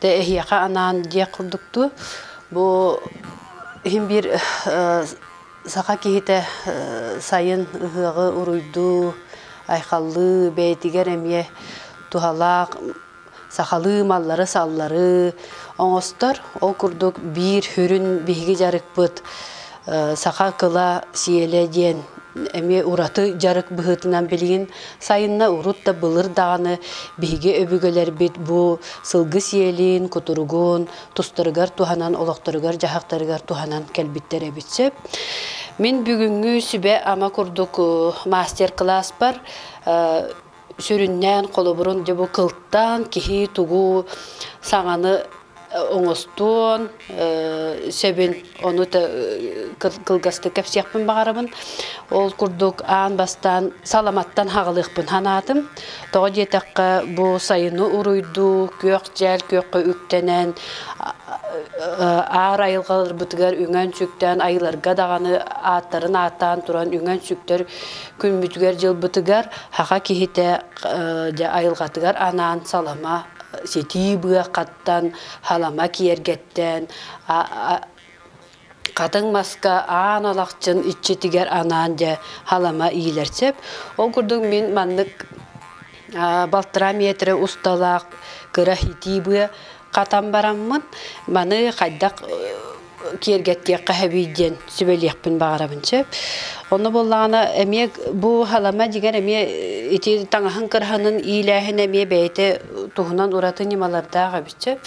Тэ эһиэхэ анаан диэх курдуктуу, бу иһин биир саха киһитэ сайын ыһыаҕы уруйдуу, айхаллыы, бэйэтигэр эмиэ туһалаах сахалыы маллары-саллары оҥостор. Ол курдук биир сүрүн биһиги дьарыкпыт Саха кыла сиэлэ диэн эмиэ ураты дьарык быһыытынан билигин сайынна урут да былыр даҕаны биһиги өбүгэлэрбит бу сылгы сиэлин, кутуругун тустарыгар туһанан, олохторугар-дьаһахтарыгар туһанан кэлбиттэр эбит сөп. Мин бүгүҥҥү сүбэ-ама курдук мастер-кылааспар сүрүннээн холобурун дьэ бу кылтаан киһи тугу саҥаны оҥостуон сөбүн ону кылгастык кэпсиэхпин баҕарабын ол курдук аан бастаан саламаттан хаҕылыахпын санаатым тоҕо диэтэххэ бу сайыны уруйдуу күөх-дьэл күөххэ үктэнэн аар айылҕаларбытыгар үҥэн сүктээн айыларга даҕаны ааттарын ааттаан туран үҥэн сүктэр Күммүтүгэр-дьылбытыгар хаха киһитэ айылҕатыгар анаан салама ситии быахаттан, халама киэргэттэн, хатыҥ маска аан алахчын иччитигэр анаан дьэ халама иилэр сөп. Ол курдук мин маннык балтыраа метрэ усталаах кыра хитии быа Хатан бараммын, маны хайдах киэргэттиэххэ эбий диэн сүбэлиэхпин баҕарабын сөп. Онно буоллаҕына эмиэ бу халама дигэр эмиэ ити таҥаһын кырһанын иилээһин эмиэ бэйэтэ туһунан ураты ньымалардаах эбит сөп.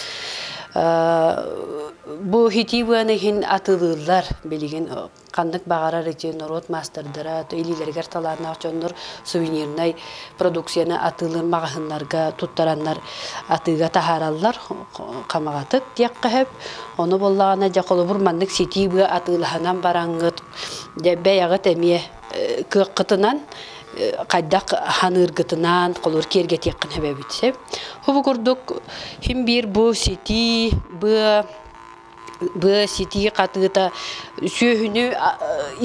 Бу итии быаны иһин атылыыллар билигин ханнык баҕарар ити норуот маастардара илиилэригэр талааннаах дьоннор сувенирнай продукцияны атыылыыр маҕаһыыннарга туттараннар атыыга таһаараллар хамаҕатык диэххэ сөп ону буоллаҕына дьэ холобур маннык ситии быа атыылаһынан бараҥҥыт бэйэҕит эмиэ кыаххытынан хайдах ханыыргытынан холур киэргэтиэххин сөбөбүт сеп Хубу курдук хим биир бу ситии быа быа ситии хатыыта сүөһүнү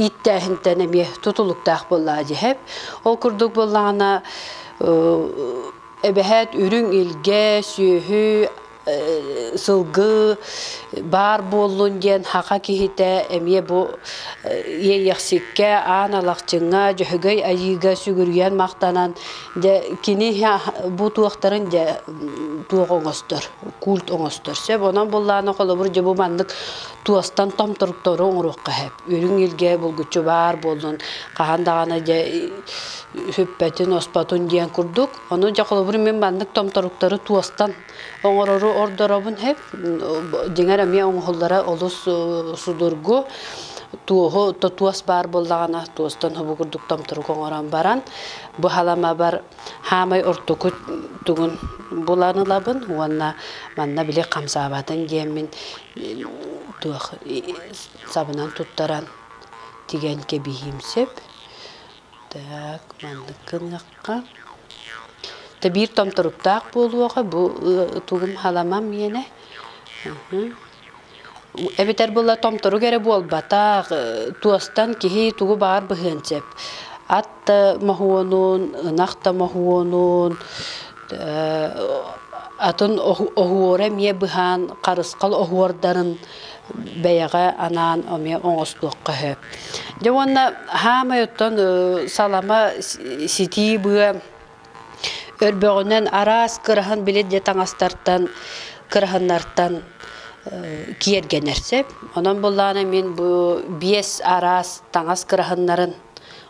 ииттээһинтэн эмиэ тутулуктаах буоллаҕа дьэһэп. Ол курдук буоллаҕына эбэһээт үрүҥ илгэ, сүөһү, сылгы баар буоллун диэн хаха киһитэ эмиэ бу иэйэхсиккэ, аан алахчыҥҥа, дьөһөгөй айыыга сүгүрүйэн махтанан дьэ кини бу туохтарын дьэ туох оҥостор курт оҥостор. Сөп, онон буллаана холобур дьэ бу маннык туостан том туруктары оҥоруохха сөп. Үрүҥ илгэ булгуччу баар буоллун, хаһан даҕаны дьэ сүппэтин, оспотун диэн курдук. Ону дьэ холобур мин маннык том туруктары туостан оҥорору ордоробун сөп. Дьиҥэр эмиэ оҥоһуллара олус судургу. Туоһу туос баар буоллаҕына туостан субу курдук том турук оҥорон баран бу халамабар Хаамай ортоку тугун булан ылабын уонна манна били хамсаабатын диэммин туох сабынан туттаран тигэн кэбиһиим сөп. Так, маннык гыныахха. Тэ биир томторуктаах буолуоҕа бу тугум халамам миэнэ. эбэтэр була томторук эрэ буолбатах туостан киһи тугу баар быһыан сөп ат да моһуонун ынах да моһуонун атын оһуора эмиэ быһаан харысхал оһуордарын бэйэҕэ анаан эмиэ оҥостуохха сөп дьэ уонна хаамай оттон салама ситии быа Өрбөҕүнэн араас кыраһан били де таҥастартан, кыраһыннартан киэргэнэр сөп. Онон буллаана мин бу биэс араас таҥас кыраһыннарын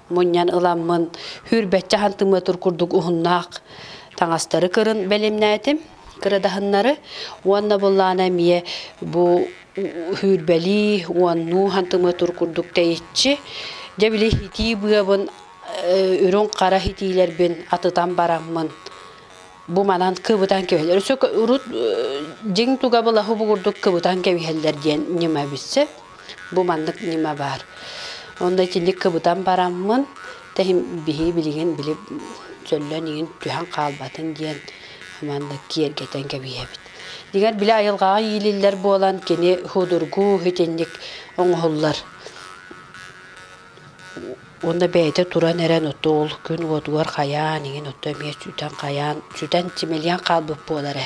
мунньан ыламмын хүрбэччэ хантымыатыр курдук уһуннаах таҥастары көрөн бэлэмнээтим, кырадаһыннары. Уонна буллаана эмиэ бу хүрбэлии, уоннуу хантымыатыр курдук тэйиччи, дьэ били итии быабын үрүҥ хара итиилэрбин атытан бараммын бу манан кыбытан кэбиһэллэр. Өссө урут дьиҥ туга былаһы бугурдук кыбытан кэбиһэллэр диэн ньыма билсэ. Бу маннык ньыма баар. Онно итинник кыбытан бараммын тэһин биһи билигин били сөллөн игин түһэн хаалбатын диэн маннык киэргэтэн кэбиһэбит. Дигэр били айылҕаҕа иилиллэр буолан кини худургуу итинник оҥоһуллар. Уонна бэйэтэ туран эрэн оттоол күн уотугар хайаан иҥин отто эмиэ сүтэн хайаан сүтэн симэлийэн хаалбыт буолара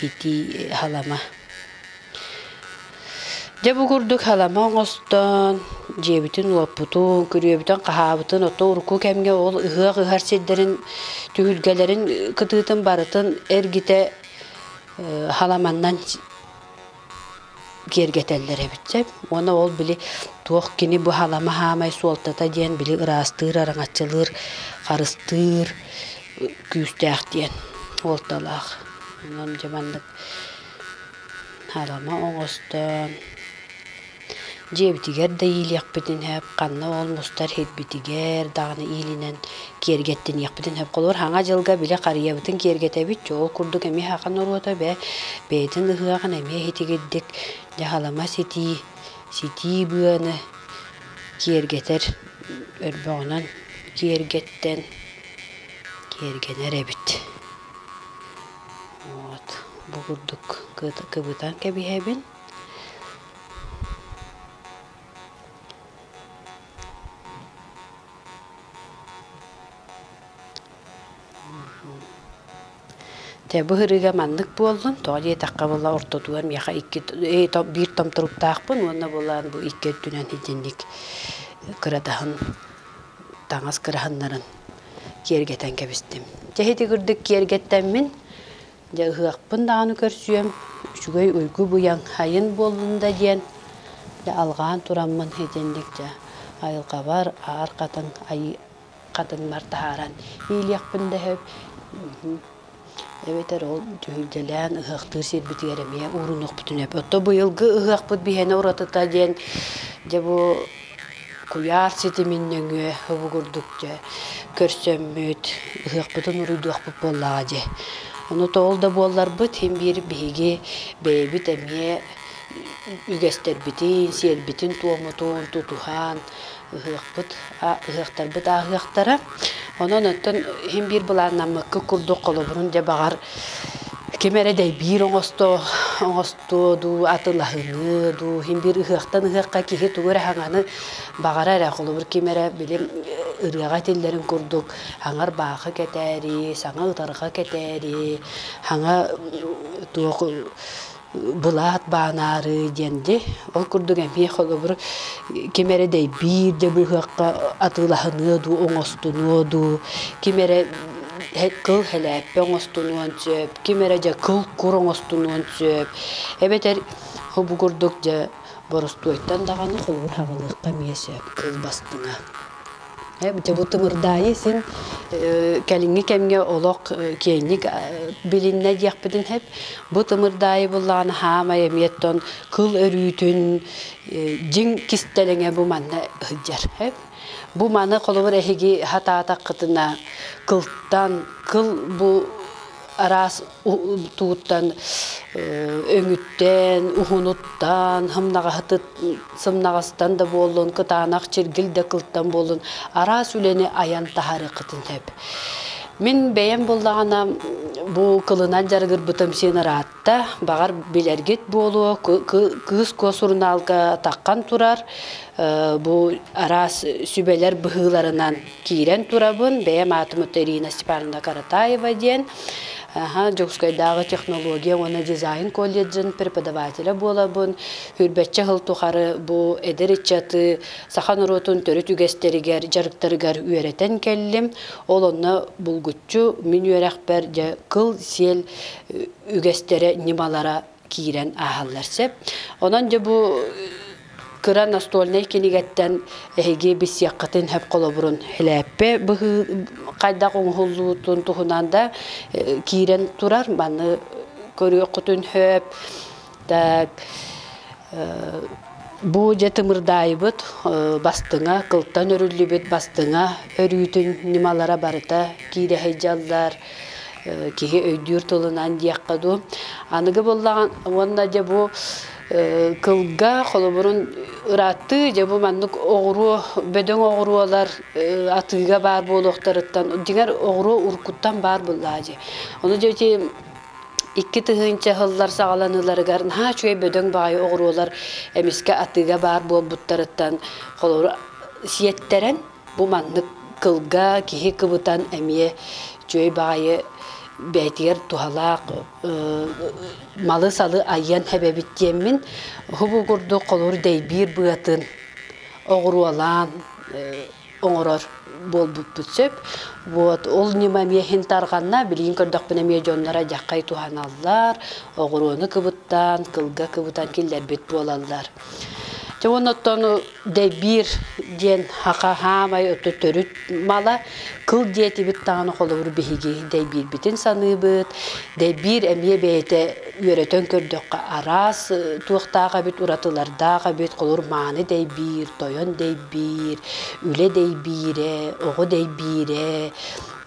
итии халама. Дьэ бу курдук халама оҥостон дьиэбитин уоппутун, күрүөбүтүн хаһаабытын отто урукку кэмҥэ ол ыһыах ыһар сирдэрин түһүлгэлэрин кытыытын барытын эргитэ халаманнан киэргэтэллэр эбит чэ уонна ол били туох кини бу халама хаамай суолтата диэн били ыраастыыр араҥаччылыыр харыстыыр күүстээх диэн уолталаах онон дьэ маннык халама оҕостоон Дьиэбитигэр да иилиэхпитин сөп, ханна ол мустар сирбитигэр даҕаны иилинэн киэргэттэниэхпитин сөп. Холобур, Саҥа дьылга били харыйабытын киэргэтэбит, чoo ол курдук эмиэ сахан оруота бэ бэйэтин ыһыаҕын эмиэ итигирдик дьаһалыма ситии, ситии быаны киэргэтэр, өрбөҕүнэн киэргэттэн киэргэнэр эбит. Вот бу курдук кыбытан кэбиһэбин. Тэ быһырыга маннык буоллун, тоҕо диэтэххэ була ортотугар миэхэ икки биир том туруктаахпын уонна булаан бу икки өттүнэн итинник кыратаһын таҥас кыраһыннарын киэргэтэн кэбистим. Чэ ити курдук киэргэттэммин Дьэ ыһыахпын даҕаны көрсүөм, үчүгэй уйгу-быйаҥ сайын буоллун да диэн, дьэ алҕаан тураммын итинник дьэ айылҕабар аар хатыҥ айыы хатыҥмар таһааран иилиэхпин да сөп. Эбэтэр ол дьүһүйдэлээн ыһыахтыыр сирбитигэр эмиэ уурунуохпутун сөп. Оттон быйылгы ыһыахпыт биһиэнэ уратыта диэн, дьэ бу Куйаар ситимин нөҥүө обугурдук дьэ көрсөммүт, ыһыахпытын уруйдуохпут буоллаҕа дии. Ону тоҕол да буолларбыт, син биир биһиги бэйэбит эмиэ үгэстэрбитин, сиэрбитин-туомутун тутуһан ыһыахпыт, ыһыахтарбыт ааһыахтара. Онон оттон син биир былааннаммыккыт курдук холобурун дьэ баҕар ким эрэ дэйбиир оҥосто оҥостуо дуу, атын аһыныа дуу, иһин биир ыһыахтан ыһыахха киһи тугу эрэ хаҥаны баҕара эрэ, холобур ким эрэ били ырыаҕа этиллэрин курдук хаҥар баахы кэтээри, саҥа утарҕа кэтээри, хаҥа туох былаат баанаары диэн дьэ ол курдук эмиэ холобур ким эрэ дэйбиир дьэ быһыахха атыылаһыныа дуу оҥостунуо дуу ким эрэ кыл хэлээппэ оҥостунуон сөп ким эрэ дьэ кыл кур оҥостунуон сөп эбэтэр бу курдук дьэ боростуойтан даҕаны холбуһаҕылыахха эмиэ сөп кыл бастыҥа Дьэ бу тымырдаайы син кэлиҥҥи кэмҥэ олох киэҥник билиннэ диэхпитин сөп. Бу тымырдаайы буллаҕына хаамай эмиэттэн кыл өрүүтүн дьиҥ кистэлэҥэ бу манна сылдьар. Бу маны холобур эһиги сатаатаххытына кылтан кыл бу араас тууттан өҥүттэн, уһунуттан, сымнаҕастан да буоллун, кытаанах чиргил да кылтан буоллун, араас үлэни айан таһаарыаххытын сөп. Мин бэйэм буллаҕына бу кылынан дьарыгырбытым син ыраатта, баҕар билэргит буолуо, кыыс куос сурунаалга таххан турар, бу араас сүбэлэр быһыыларынан киирэн турабын, бэйэм аатым ото Ирина Степановна Каратаева диэн, Дьокуускайдааҕы технология уонна дизайн колледжын преподавателя буолабын. Хүрбэччэ сыл тухары бу эдэр ыччаты саха норуотун төрүт үгэстэригэр, дьарыктарыгар үөрэтэн кэллим. Ол онно булгуччу мин үөрэхпэр дьэ кыл-сиэл үгэстэрэ, ньымалара киирэн ааһаллар сөп. Онон дьэ бу кыра настольнай кинигэттэн эһиги билсиэххитин сөп холобурун хилээппэ быһыы хайдах оҥоһуллуутун туһунан да киирэн турар манны көрүөххүтүн сөп да Бу дьэ тымырдаайбыт бастыҥа, кылтан өрүллүбүт бастыҥа өрүүтүн ньымалара барыта киирэһэй дьаллаар, киһи өйдүүр тылынан диэххэ дуу. Аныгы буоллаҕын уонна дьэ бу кылга холобурун ырааттыы дьэ бу маннык оҕуруо, бөдөҥ оҕуруолар атыыга баар буолуохтарыттан дьиҥэр оҕуруо уруккуттан баар буоллаҕа дии. Ону дьэ ити Икки тыһыынча сыллар саҕаланыыларыгар наһаа үчүгэй бөдөҥ баҕайы оҕуруолар эмискэ атыыга баар буолбуттарыттан холобура сиэттэрэн бу маннык кылга киһи кыбытан эмиэ үчүгэй баҕайы бэйэтигэр туһалаах малы-салы айыан эбэбит диэммин уһу бу курдук холобур дэйбиир быатын оҕуруолаан оҥорор буолбуппут сөп. Вот ол ньыма эмиэ иһин тарҕанна. Билигин көрдөхпүнэ эмиэ дьонноро дьаххай туһаналлар, оҕуруону кыбыттаан, кылга кыбытан киллэрбит буолаллар. Дьэ уонна оттону дэйбиир диэн аха хаамай оту төрүт мала кыл диэтибит даҕаны холобур биһиги дэйбиирбитин саныыбыт. Дэйбиир эмиэ бэйэтэ үөрэтэн көрдөххө араас туохтаах эбит уратылардаах эбит холор мааны дэйбиир тойон дэйбиир үлэ дэйбиирэ оҕо дэйбиирэ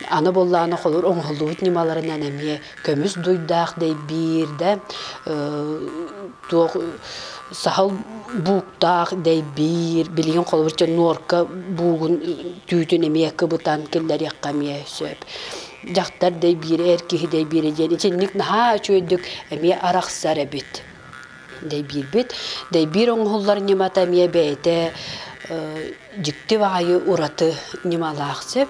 аны буллааны холор оҥоһуллубут ньымаларынан эмиэ көмүс дуйдаах дэйбиир да туох сахал бууктаах дэйбиир билигин холобурча нуорка буугун түүтүн эмиэ кыбытан киллэриэххэ эмиэ сөп дьахтар дай биирэ эр киһи дай биирэ диэн итинник наһаа үчүгэйдик эмиэ арахсар эбит дэйбиирбит дэйбиир оҥоһуллар ньымата эмиэ бэйэтэ дьикти баҕайы ураты ньымалаах сөп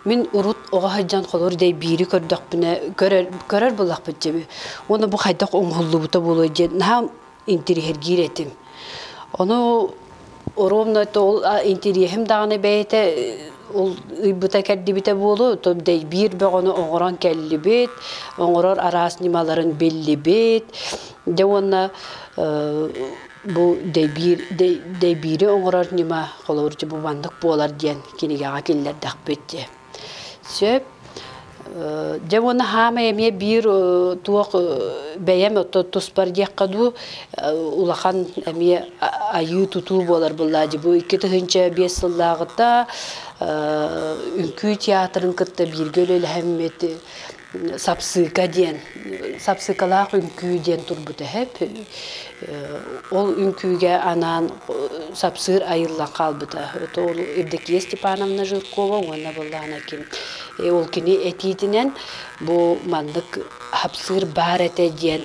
мин урут оҕо сылдьан холуур дэйбиири көрдөхпүнэ көрөр көрөр буоллахпыт дьэ уонна бу хайдах оҥоһуллубута буолуой диэн наһаа интириэһиргиир этим. Ону ровно то ол интириэһим даҕаны бэйэтэ ол ыйбыта кэрдибитэ буолу то биир бөҕөнү оҥорон кэллибит оҥорор араас ньымаларын биллибит де уонна бу дэйбиир дэйбиири оҥорор ньыма холобурча бу маннык буолар диэн кинигэҕэ киллэрдэхпит Сөп. Дьэ уонна хаамай эмиэ биир туох бэйэм туспар диэххэ дуу, улахан эмиэ айыы-тутуу буолар былаадьы. Бу икки тыһыынча биэс сыллааҕыта үҥкүү театрын кытта бииргэ үлэлэһэммит сапсыыка диэн сапсыыкалаах үҥкүү диэн турбут эһэп ол үҥкүүгэ анаан сапсыыр айыллан хаалбыта ол Евдокия Степановна Жиркова уонна былаан Аким ол кини этиитинэн бу маннык хапсыыр баар этэ диэн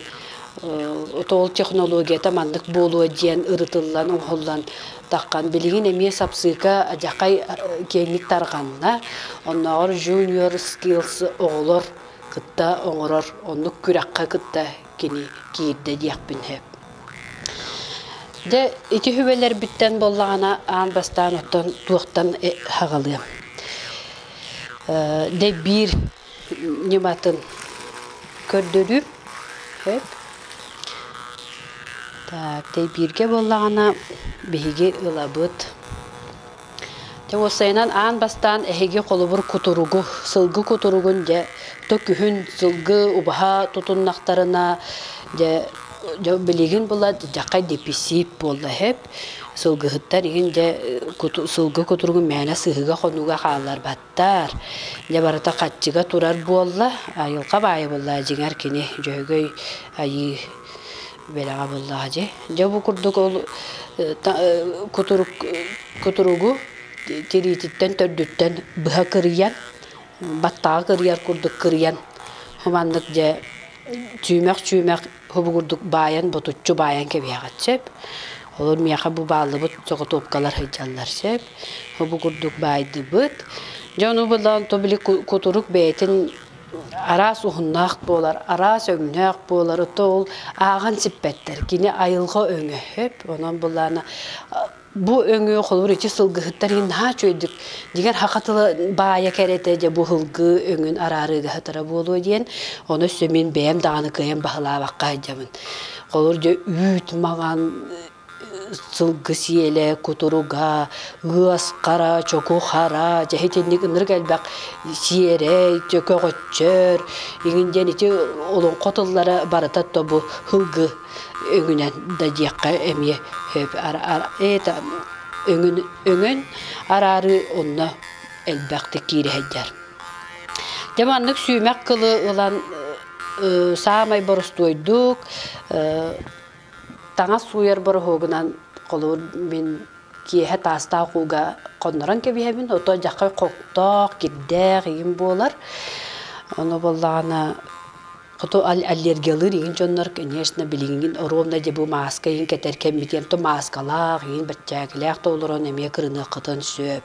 ол технологията маннык буолуо диэн ырытыллан оҥоһуллан таххан билигин эмиэ сапсыыка дьахай киэҥник тарҕанна оннооҕор junior skills оҕолор кытта оҥорор оннук күрэххэ кытта кини киирдэ диэхпин сөп дэ ити хүбэлэрбиттэн буоллаҕына аан бастаан оттон туохтан э, хаҕылыам э, дэ биир ньыматын көрдөрүүм сөп так тэйбииргэ буоллаҕына биһиги ылабыт дьэ уопсайынан аан бастаан эһиги холобур кутуругу сылгы кутуругун дьэ то күһүн сылгы убаһа тутуннахтарына дьэ дьэ билигин була дьаххай дэписиит буолла сөп сылгыһыттар игин дьэ куту сылгы кутуругу мээнэ сыһыга хонууга хаалларбат Таар, дьэ барыта хаччыга турар буолла. Айылҕа баайа буоллаҕа дьиҥэр кини Дьөһөгөй айыы бэлэҕэ буоллаҕа дьи. Дьэ бу курдук ол кутурук кутуругу тириититтэн төрдүттэн быһа кырыйан баттаҕа кырыйар курдук кырыйан маннык дьэ чүүмэх-чүүмэх Хобугурдук баайан, ботуччу баайан кэбиэҕит сөп. Олор миэхэ бу бааллыбыт соҕотуопкалар сылдьаллар сөп. Хобугурдук баайдыбыт. Дьону булан то били кутурук бэйэтин араас уһуннаах буолар, араас өҥнөөх буолар, то ол ааҕан сиппэттэр. Кини айылҕа өҥө сөп. Онон булаана Бу өҥү холобур ити сылгыһыттар иһин наһаа үчүгэйдик дигэр хаха тыла баайа кэрэтэ дьэ бу ыһылгы өҥүн араарыыгаһытара буолуо диэн ону өссө мин бэйэм даҕаны кыайан баһылаабакка сылдьабын холобур дьэ үүт маҥан сылгы сиэлэ кутуруга ыас хара чоку хара дьэ итинник ынырык элбэх сиэрэй көҕөччөр игин диэн ити олоҥхо тыллара барыта тобу һылгы өҥүнэн да диэххэ эмиэ это өҥүн өҥөн араарыы онно элбэхтик киириһэйдэр. Дьэ маннык сүүмэх кылы ылан саамай борустуойдук таҥас сууйар бороһуогунан холобур мин киэһэ таастаах ууга хоннорон кэбиһэбин ото дьаххай хоктоох кирдээх ийим буолар. Ону буоллаҕына Хоту аллергиялыыр иин дьоннор, конечно, билиҥҥин оруобуна диэн бу мааска иин кэтэр кэммитиэн то мааскалаах, иин баччаакилээх толорон эмиэ кырыныаххытын сөп.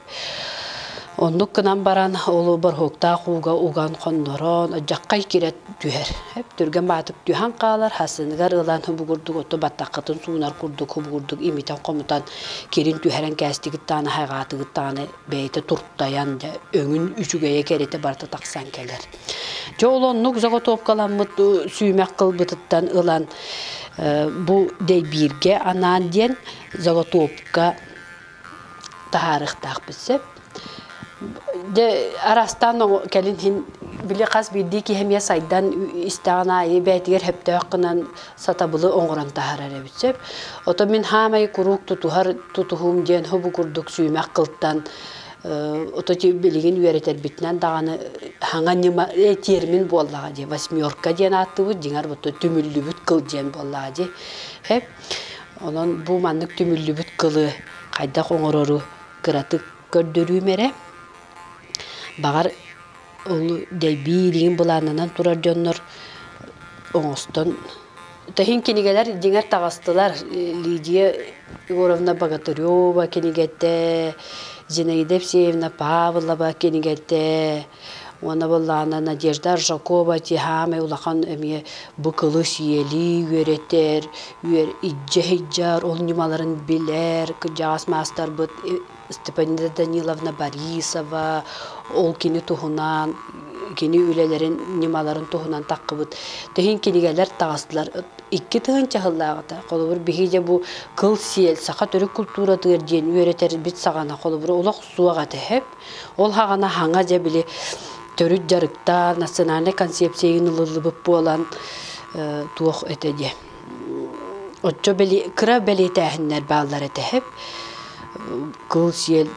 Оннук гынан баран ол борһууктаах ууга уган хоннорон дьаххай кирет түһэр. Эп түргэн баатык түһэн хаалар, хасыныгар ылан хубугурдук оту баттаккытын суунар курдук хубугурдук имитэн хомутан кирин түһэрэн кээстигит тааны хайҕаатыгыт тааны бэйэтэ туртайан дьэ өҥүн үчүгэйэ кэритэ барыта тахсан кэлэр. Дьэ ол оннук заготовкаламмыт сүүмэх кылбытыттан ылан бу дэйбииргэ анаан диэн заготовка таһаарыхтаахпыт сөп. Дьэ араастаан кэлин иһин били хас биирдии киһи эмиэ сайдан истэҕин аайы бээтигэр сөптөөх гынан сатабылы оҥорон таһаарар эбит сөп. Ото мин хаамай куруук тутуһар тутуһуум диэн хобу курдук сүүмэх кылтан ото билигин үөрэтэрбитинэн даҕаны хаҥа ньыма термин буоллаҕа дии восьмерка диэн ааттыбыт дьиҥэр бу түмүллүбүт кыл диэн буоллаҕа дии хэп онон бу маннык түмүллүбүт кылы хайдах оҥорору кыратык көрдөрүүм эрэ баҕар Ол дэлбиилигин былаанынан турар дьоннор оҥостон Тэһин кинигэлэр дьиҥэр таҕыстылар. Лидия Егоровна Богатырева кинигэтэ, Зинаида Евсеевна Павлова кинигэтэ уонна буоллаҕына Надежда Аржакова «Тиһаамай улахан эмиэ бу кылы сиэли үөрэтэр, иджэ сыдьар, ол ньымаларын билэр кырдьаҕас маастарбыт Степанида Даниловна Борисова, ол кини туһунан, кини үлэлэрин ньымаларын туһунан таххыбыт. Тэһин кинигэлэр таҕыстылар. Икки тыһынча сыллааҕыта, холобур, биһиги бу Кыл Сиэл, саха төрүт култууратыгар диэн үөрэтэрбит саҕана, холобур, олох суох этэ. Ол хаҕана хаҥа дьэ били төрүт дьарыктаан, национальнай концепция ылыллыбыт буолан, туох этэ диэ Оччо били кыра бэлиэтээһиннэр бааллар этэһэп, кыл сиэл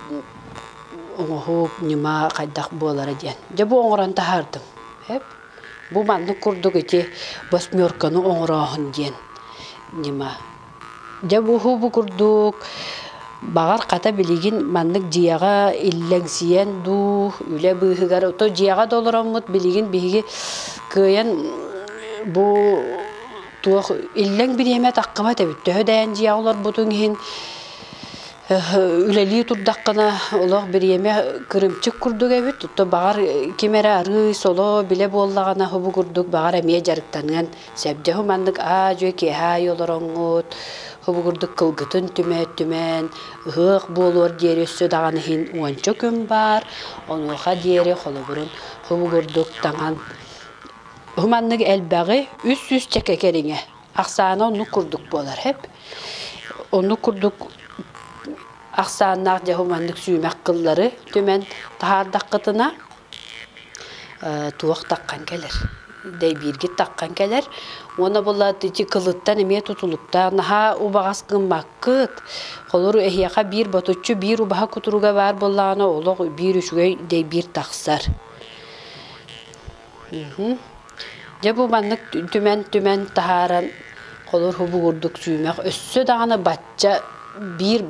оҥоһук, ньыма хайдах буолара диэн. Дьэ бу оҥорон таһаардым. Эп бу маннык курдук ити восьмерканы оҥорооһун диэн ньыма. Дьэ бу бу курдук баҕар хата билигин маннык дьиэҕэ иллэҥсийэн дуу, үлэ быыһыгар ото дьиэҕэ да олороммут билигин биһиги кыайан бу туох иллэҥ бириэмэ таххыбат эбит төһө да эн дьиэҕэ олорбутуҥ иһин үлэлии турдаххына олох бириэмэ кырымчык курдук эбит то баҕар ким эрэ арыый соло билэ буоллаҕына хобу курдук баҕар эмиэ дьарыктаныан сөп дьэ маннык аа-дьуо киэһэ аайы олороҥҥут хобу курдук кылгытын түмэ-түмэн ыһыах буолуор диэри өссө даҕаны иһин уонча күн баар онуоха диэри холобурун хобу курдук таҥан Маннык элбэҕи үс сүүс чэкэ кэриҥэ. Ахсаана оннук курдук буолар эп. Оннук курдук ахсааннаах дьаһал маннык сүүмэх кыллары түмэн таһаардаххытына туох таххан кэлэр. Дэйбииргит таххан кэлэр. Уонна булат ити кылыттан эмиэ тутулуктаах наһаа убаҕас гыммаккыт. Холору эһиэхэ биир ботуччу биир убаһа кутуруга баар буоллаҕына олох биир үчүгэй дэйбиир тахсар. Дьэ бу маннык түмэн-түмэн таһааран холор уһугурдук сүүмэх өссө даҕаны бачча биир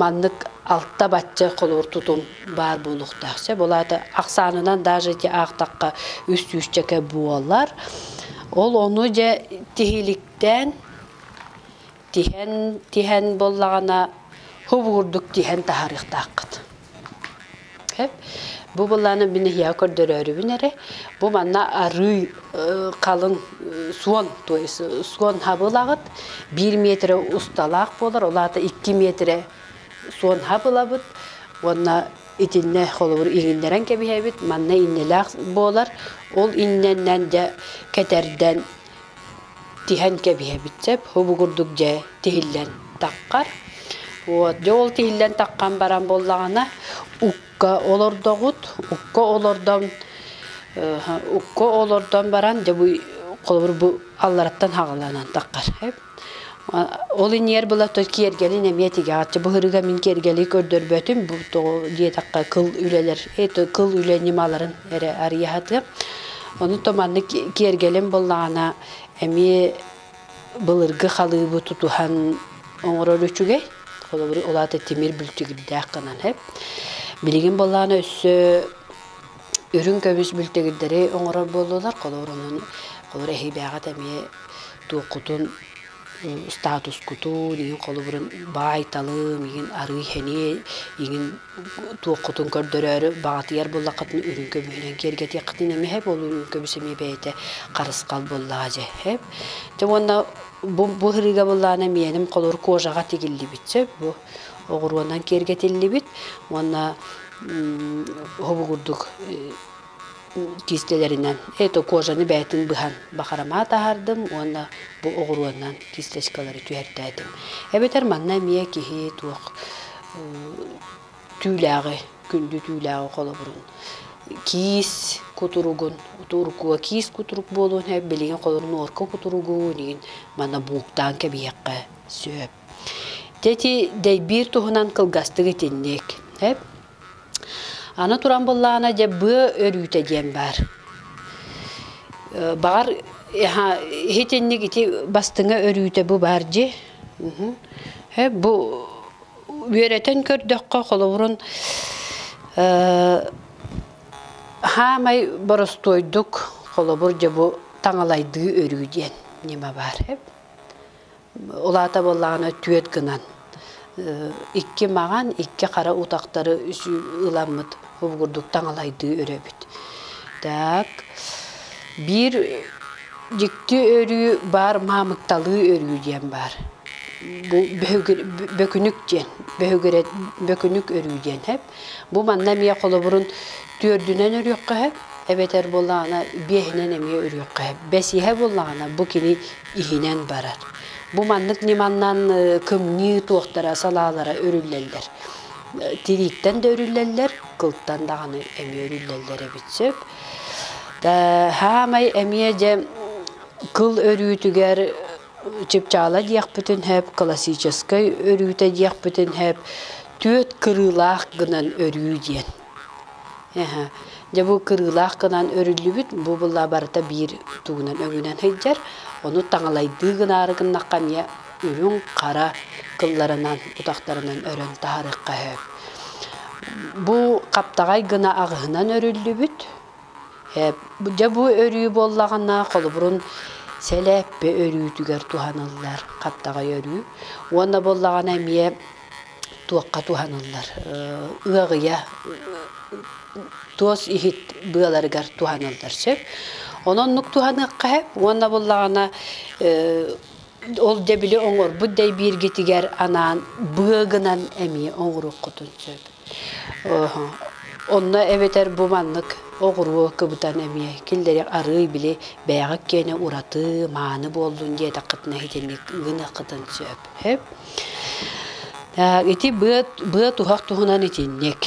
маннык алта бачча холуур тутум баар буолуохтаах. Чэ, булаата ахсаанынан даже ити аахтахха үс сүүсчэкэ буолар. Ол ону дьэ тиһиликтээн тиһэн тиһэн буоллаҕына һув уурдук тиһэн таһаарыахтааххыт. Бу былааны мин эһиэхэ көрдөрөөрүбүн эрэ, бу манна арыы халыҥ суон, то есть суон хабылаҕыт биир метрэ усталаах буолар, ол аата икки метрэ суон хабылабыт уонна итиннэ холобур иҥиннэрэн кэбиһэбит, манна иннэлээх буолар, ол иннэнэн дьэ кэтэрдэн тиһэн кэбиһэбит сөп убугурдук дьэ тиһиллэн таххар вот дьэ ол тиһиллэн таххан баран буоллаҕына укка олордоҕут укка олордон укка олордон баран дьэ бу холобур бу аллараттан хаҕыланан таххар Ол иниэр была то киэргэлин эмиэ тигэҕэтчи былырыга мин киэргэли көрдөрбөтүм бу тоҕу диэтахха кыл үлэлэр это кыл үлэ ньымаларын эрэ арыйаһатыам ону то маннык киэргэлим буллаҕына эмиэ былыргы халыыбы тутуһан оҥорор үчүгэй холобур улаата тимир бүлтүгүрдээх гынан эп билигин былаана өссө Үрүҥ көмүс бүлтэгирдэри оҥорор буоллулар. Холобур, онон холобур эһиилээҕит эмиэ туоххутун статускутун, игин холобурун баайталыы, игин арыы-хэнии, игин туоххутун көрдөрөөрү баҕатыйар буоллаххытына үрүҥ көмүһүнэн киэргэтиэххитин эмиэ сэп. Ол үрүҥ көмүс эмиэ бэйэтэ харысхал буоллаҕа дьэ сэп. Дьэ уонна бу бу ырыыга буоллаҕына миэним холобур кожаҕа тигиллибит сэп бу. оҕуруонан киэргэтиллибит уонна уһугурдук киистэлэринэн это кожаны бээтин быһан бахарымаат аһардым уонна бу оҕуруонан кисточкалары түһэртээтим эбэтэр манна эмиэ киһи туох түүлээҕи күндү түүлээҕи холобурун киис кутуругун туркуга киис кутурук буолуон билигин холорун орко кутуругу инигин мана бууктаан кэбиһиэххэ сөп Тети дэйбиир туһунан кылгастык итинник. Эп? Аны туран быллаана дьэ быа өрүүтэ диэн баар. Баҕар иһитинник ити бастыҥа өрүүтэ бу баар дьи. Эп бу үөрэтэн көрдөххө холобурун хаамай боростуойдук холобур дьэ бу таҥалайдыы өрүү диэн ньыма баар эп. Улаата буоллаҕына түөрт гынан икки маҕан, икки хара утахтары ыламмыт обугурдук таҥалайдыы өрөбүт. Так, биир дьикти өрүү баар маамыкталыы өрүү диэн баар. Бу бөкүнүк диэн бөкүнүк өрүү диэн эп. Бу манна эмиэ холобурун түөрдүнэн өрүөххэ эһэп, эбэтэр буоллаҕына биэһинэн эмиэ өрүөххэ эһэп. Бэсиэһэ буоллаҕына бу кини иһинэн барар. Бу маннык ньыманнан кымньыы туохтара салаалара өрүллэллэр. Тирииттэн да өрүллэллэр, кылтан даҕаны эмиэ өрүллэллэр эбит сөп. Саамай эмиэ дьэ кыл өрүүтүгэр Чыпчаала диэхпитин сөп, классическай өрүүтэ диэхпитин сөп, түөрт кырыылаах гынан өрүү диэн. Дьэ бу кырыылаах гынан өрүллүбүт, бу була барыта биир тугунан өрүүнэн сылдьар. Ону таҥалайдыы гынаары гыннахха эмиэ үрүҥ, хара кылларынан, утахтарынан өрөн таһарыахха сөп. Бу хаптаҕай гына аҕыһынан өрүллүбүт, Дьэ бу өрүү буоллаҕына, холобурун сэлээппэ өрүүтүгэр туһаныллар хаптаҕай өрүү уонна буоллаҕына эмиэ туохха туһаныллар ыаҕыйа туос иһит быаларыгар туһаныллар сөп. Ону оннук туһаныахха сөп уонна буоллаҕына Ол да били оҥорбут да бииргитигэр анаан быа гынан эмиэ оҥоруккутун сөп. Онно эбэтэр бу маннык оҕуруо кыбытан эмиэ киллэри арыый били бэйэҕит киэнэ ураты, мааны буоллун диэтэххитинэ итинник гыныаххытын сөп. Ити быа туһах туһунан итинник.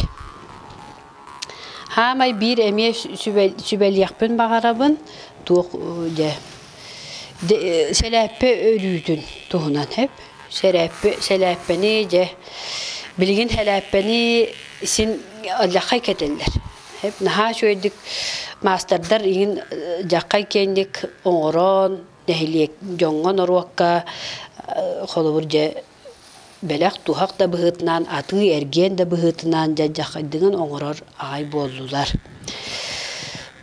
Хаамай биир эмиэ сүбэлиэхпин баҕарабын туох дьэ сэлээппэ өрүүтүн туһунан эп сэлээппэ сэлээппэни дьэ билигин сэлээппэни син дьаххай кэтэллэр эп наһаа үчүгэйдик маастардар иҥин дьаххай киэҥник оҥорон нэһилиэк дьоҥҥо норуокка холобур дьэ Бэлэх туһах да быһыытынан, атыы-эргиэн да быһыытынан дьайдаххайдыгын оҥорор аҕай буоллулар.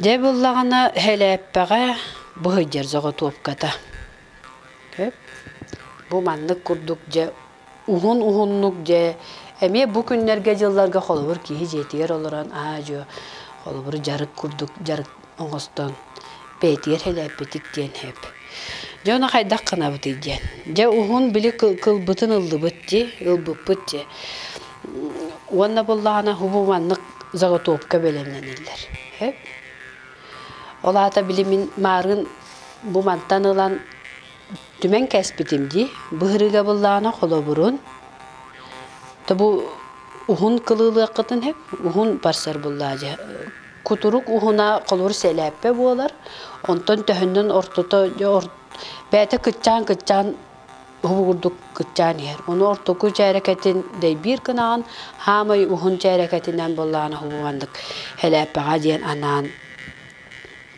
Дьэ буллаҕына Һэлээппэҕэ бу сылдьар соҕотуопката. Сөп? Бу маннык курдук дьэ уһун-уһуннук дьэ эмиэ бу күннэргэ-дьылларга холобур киһи дьиэтигэр олорон аа-дьуо холобур дьарык курдук дьарык оҥостон бэйэтигэр сэлээппитик диэн эп. Дьэ ону хайдах гынабытый диэн. Дьэ уһун били кылбытын ыллыбыт дии, ылбыппыт дии. Уонна буллаҕына уһу маннык заготовка бэлэмнэниллэр. Эп. Ол аата били мин маарын бу мантан ылан түмэн кэспитим дии. Быһырыыга буллаҕына холобурун то бу уһун кылыылыаххытын эп, уһун барсар буллаа дьэ кутурук уһуна холур сэлээппэ буолар. Онтон төһөннөн ортото бэйэтэ кыччаан-кыччаан уһугурдук кыччаан иһэр. Ону ортоку чээрэкэтин дэйбиир гынаҕын, хаамай уһун чээрэкэтинэн буллаҕын уһугуганнык хэлээппэҕэ диэн анаан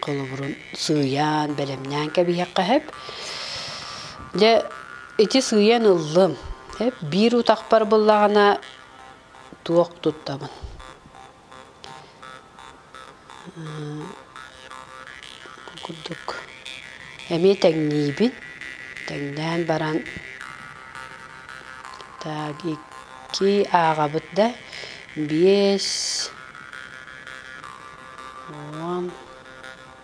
холобурун сыыйаан, бэлэмнээн кэбиһиэххэ сөп. Дьэ, ити сыыйан ыллым. Биир утахпар буллаҕына туох туттабын. курдук эмиэ тэҥниибин тэҥнээн баран так икки ааҕабыт да биэс уон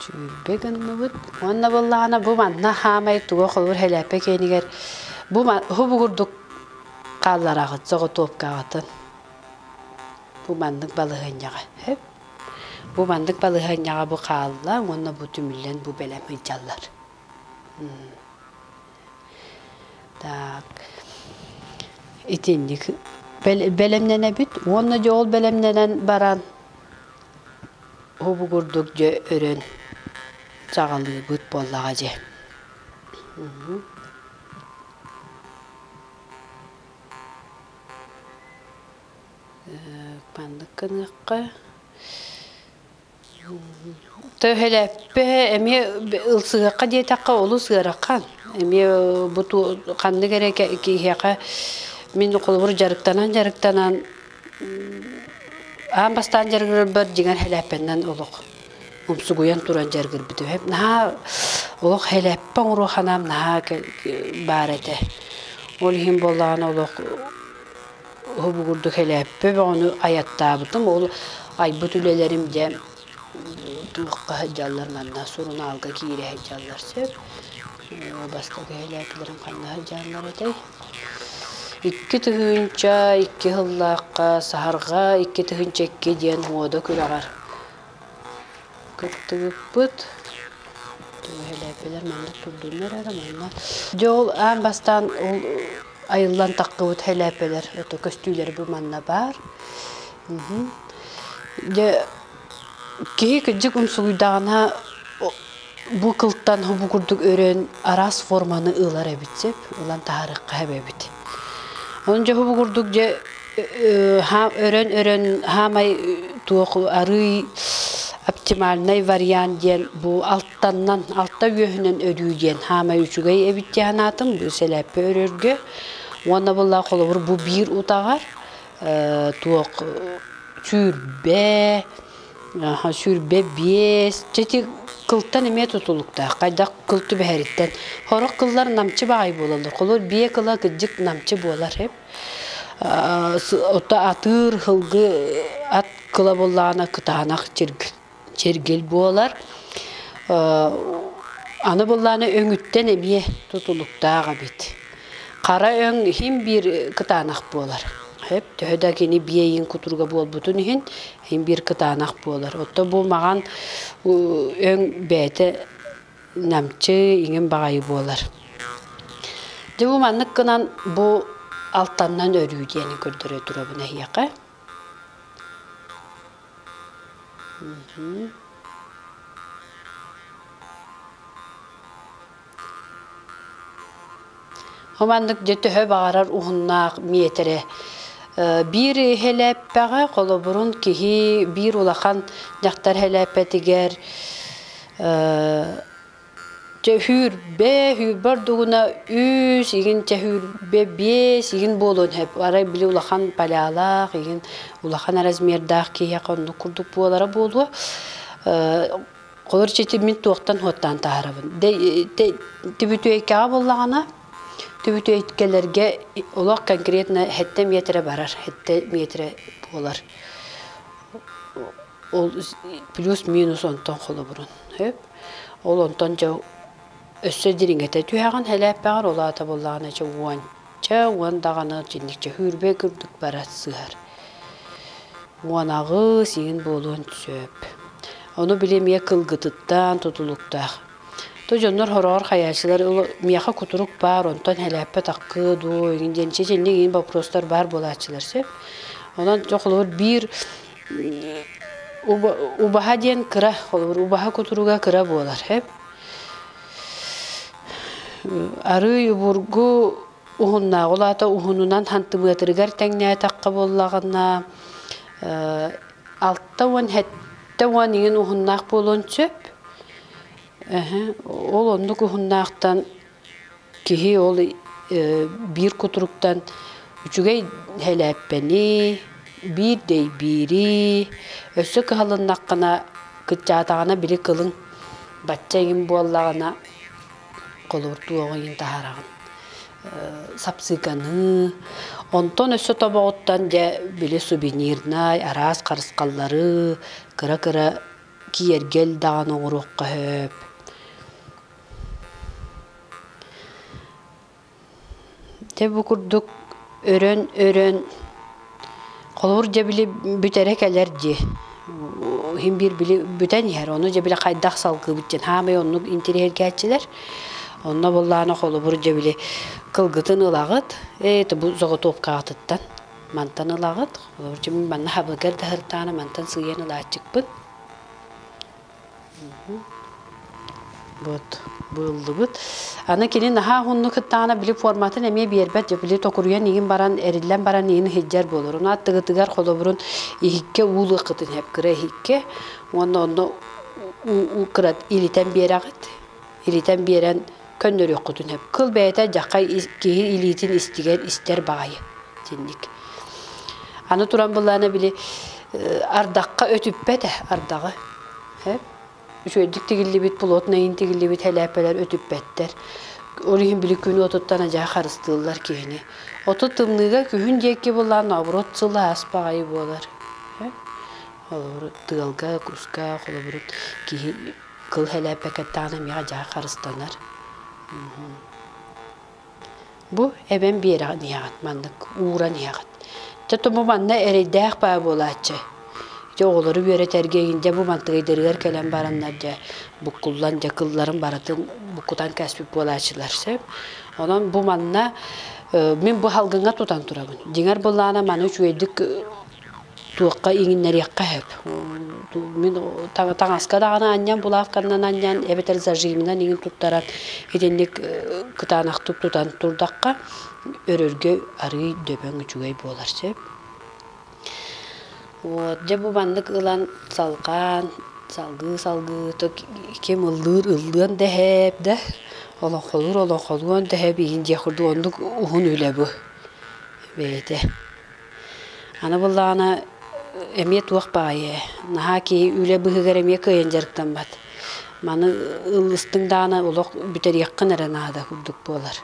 Чүүлбэ гынныбыт уонна быллаана бу манна хаамай туга холур хэлээппэ киэнигэр бу уһубугурдук хааллараҕыт соҕотуопкаҕытын бу маннык балаһыанньаҕа эп бу маннык балаһыанньаҕа бу хаалла уонна бу түмүллэн бу бэлэм ыйдьаллар Так, итинник бэлэмнэнэбит уонна дьэ ол бэлэмнэнэн баран уһугурдук дьэ өрөн чаҕылыыбыт буоллаҕа дьэ. Маннык гыныахха Төһөлөппө эмиэ ылсыһыахха диэтэххэ олус ыарахан. Эмиэ бу ханнык эрэ киһиэхэ мин холобур дьарыктанан дьарыктанан аан бастаан дьарыгырарбар дьиҥэр хэлээппэннэн олох умсугуйан туран дьарыгырбыт үһү. Наһаа олох хэлээппэ оҥоруохханаам наһаа баар этэ. Ол иһин буоллаҕына олох уһугурдук элээппэ бөҕөнү айаттаабытым ол айбыт үлэлэрим дьэ туохха сылдьаллар манна сурунаалга киирэ сылдьаллар сөп оо бастакы элээпилэрим ханна сылдьаллар этэй икки тыһыынча икки сыллаахха саһарҕа икки тыһыынча икки диэн муода күрэҕэр кыттыбыппыт төһөлөппүлэр маннык турдуннар эрэ манна дьэ ол аан бастаан ол айыллан таххыбыт хэлээппэлэр это көстүүлэри бу манна баар дьэ киһи кырдьык умсугуйдаҕына Бу кылтан хобу курдук өрөн араас форманы ылар эбит сөп, ылан таһаарыахха сөп эбит. Ону дьэ хобу курдук дьэ өрөн-өрөн хаамай туох арыый оптимальный вариант диэн бу алтаннан, алта үөһүнэн өрүү диэн хаамай үчүгэй эбит дии санаатым, бу сэлээппэ өрөргө. Уонна буоллаҕа холобур бу биир утаҕар туох сүүрбэ Аха сүүрбэ биэс чэ ити кылтан эмиэ тутулуктаах хайдах кыл түбэһэриттэн сорох кыллар намчы баҕайы буолаллар холор биэ кыла кырдьык намчы буолар үп атыыр сылгы ат кыла буоллаҕына кытаанах чиргил чиргил буолар аны буоллаҕына өҥүттэн эмиэ тутулуктаах эбит хара өҥ иһин биир кытаанах буолар төһө да кини биэйин кутуруга буолбутун иһин Иһин биир кытаанах буолар. Отто бу маҕан өҥ бэйэтэ намчы, иҥин баҕайы буолар. Дьэ бу маннык гынан бу алтаннан өрүү диэни көрдөрө турабын эһиэхэ. Ол маннык дьэ төһө баҕарар уһуннаах миэтэрэ. Биир һэлээппэҕэ, холобурун киһи биир улахан дьахтар һэлээппэтигэр дьэ сүүрбэ, сүүрбэ ордугуна үс, игин чэ сүүрбэ биэс, игин буолуон сөп. Арай били улахан палялаах, игин улахан размердаах киһиэхэ оннук курдук буолара буолуо. Холор ситиммин туохтан хуоттаан таһарабын. Түбүтүөйкэҕэ буоллаҕына, түбүтүөйкэлэргэ олох конкретно сэттэ метрэ барар, сэттэ метрэ буолар. Ол плюс-минус онтон холобурун. Ол онтон дьэ өссө дириҥэтэ түһэҕин, сэлээппэҕэр, ол аата буоллаҕына дьэ уон. Чэ, уон даҕаны итинникчэ хүүрбэ курдук бара сыһар. Муонаҕыс иҥин буолуон сөп. Ону били эмиэ кылгытыттан, тутулуктаах. Ту дьоннор хороҕор хайааччылар миэхэ кутурук баар, онтон элээппэт-аккы дуу, иҥин диэн чеченник иҥин боппуруостар баар буолааччылар сөп. Онон дьэ холобур биир убаһа диэн кыра, холобур убаһа кутуруга кыра буолар, сөп. Арыый убургу уһуннааҕы улаата уһунунан хантыбыатырыгар тэҥнээтэххэ буоллаҕына алта уон сэттэ уон иҥин уһуннаах буолуон сөп. Ол оннук уһуннаахтан киһи ол биир кутуруктан үчүгэй сэлээппэни Биир дэйбиирии, өссө кыһалыннаххына, кыччаатаҕына били кылыҥ бачча иҥин буоллаҕына, холуур туох иҥин таһараҕын. Сапсыыканыы, онтон өссө тобоҕуттан дьэ били сувенирнай, араас харысхаллары кыра-кыра киэргэл даҕаны оҕуруохха сөп. Дьэ бу курдук өрөн-өрөн холобур дьэ били бүтэрэ кэлэр дии. Иһин биир били бүтэн иһэр. Ону дьэ били хайдах салгыыбыт диэн хаамай оннук интириэһиргээччилэр. Онно буоллаҕына холобур дьэ били кылгытын ылаҕыт, это бу соҕотуопкаҕытыттан мантан ылаҕыт. Холобур дьэ мин манна хабылыгар да сырытаары мантан сыыйан ылааччыкпын. Вот быыллыбыт. Аны кини наһаа уһуннук кыттаҕына били форматын эмиэ биэрбэт дьэ били токуруйан иҥин баран эриллэн баран иҥин иһирдьэр буолар. Уна аттыгытыгар холобурун иһиккэ уулуоххутун сөп кыра иһиккэ уонна онно кыра илитэн биэрэҕит Иритэн биэрэн көннөрүөххутүн сөп. Кыл бэйэтэ дьаххай киһи илиитин истигэр истэр баҕайы итинник. Аны туран былаана били ардахха өтүппэтэ ардаҕы. Үчүгэйдик тигиллибит, плотнайын тигиллибит хэлээппэлэр өтүппэттэр. Ол иһин били күн уотуттан адьаһа харыстыыллар киһини. Отут тымныыга күһүн диэки былаан наоборот сылаас баҕайы буолар. Холобур тыалга, куска, холобур киһи кыл сэлээппэкэттэҕинэ миэхэ дьаһах харыстанар бу эбэм биэрэҕин иһэҕит маннык ууран иһэҕит чэ бу манна эрэйдээх баа буолааччы ити оҕолору үөрэтэргэ дьэ бу мантыгайдарыгар кэлэн бараннар дьэ буккуллан дьэ кылларын барытын буккутан кэспит буолааччылар сөп онон бу манна мин бу салгыҥҥа тутан турабын дьиҥэр былаана маны үчүгэйдик Туохха иҥиннэриэххэ сөп. Мин таҥаска даҕаны анньан, булавканнан анньан эбэтэр зажимынан иҥин туттаран итинник кытаанахтык тутан турдахха өрөргө арыый дөбөҥ үчүгэй буолар сөп. Вот дьэ бу маннык ылан салҕаан салгыы салгыытык ким ыллыыр ыллыан да эһээт да олоҥхолуур олоҥхолуон да эһээт иһин дьиэ курдук оннук уһун үлэ бу бэйэтэ. Аны буоллаҕына эмиэ туох баҕайы наһаа киһи үлэ быһыыгар эмиэ кыайан дьарыктаммат. Маны ылыстыҥ даҕаны олох бүтэриэххин эрэ наада курдук буолар.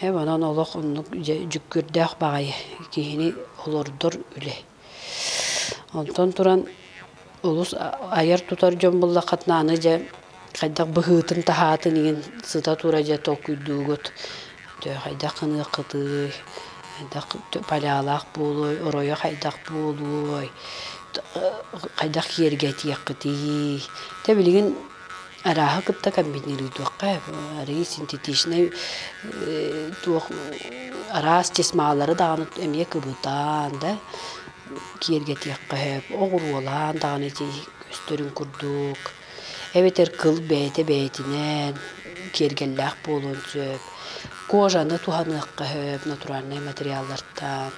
Онон олох оннук дьүккүөрдээх баҕайы киһини олордор үлэ. Онтон туран олус айар-тутар дьон буллаххытына аны дьэ хайдах быһыытын таһаатын игин сыта тура дьэ толкуйдуугут то хайдах гыныаххытый хайдах палялаах буолуой оройо хайдах буолуой хайдах киэргэтиэххитий те билигин арааһы кытта комбинируйдуохха арыый синтетичнэй туох араас тесмалары даҕаны эмиэ кыбытаан да киэргэтиэххэ сөп оҕуруолаан даҕаны ити көстөрүн курдук эбэтэр кыл бэйэтэ бэйэтинэн киэргэллээх буолуон сөп кожаны туһаныахха сөп натуральнай материаллартан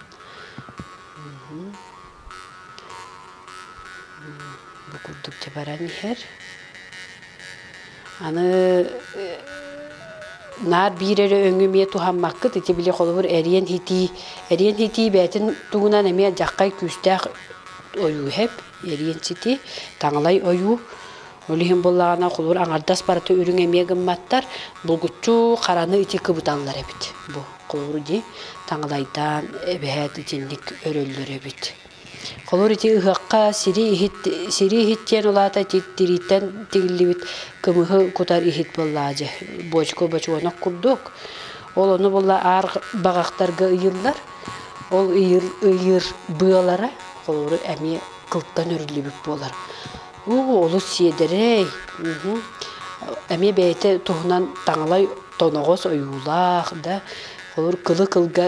бу курдук дьабаран иһэр Аны наар биир эрэ өҥү эмиэ туһаммаккыт ити били холобур эриэн итии эриэн итии бэйэтин тугунан эмиэ дьаххай күүстээх ойууһэп эриэн ситии таҥалай ойуу ол иһин буоллаҕына холобур аҥардас барыта үрүҥ эмиэ гымматтар булгуччу хараны ити кыбыталлар эбит бу холобур дии таҥалайдаан эбэһээт итинник өрөллөр эбит Холуур ити ыһыахха сири иһит, сири иһит диэн улаата тириттэн тигиллибит кымыһы кутар иһит буоллаа дьэ бочку бочуонок курдук. Ол ону булла аар баҕахтарга ыйыллар. Ол ыйыр ыйыр быалара холууру эмиэ кылтан өрүллүбүт буолар. Уу олус сиэдэрэй. Эмиэ бэйэтэ туһунан таҥалай тоноҕос ойуулаах да холуур кылы кылга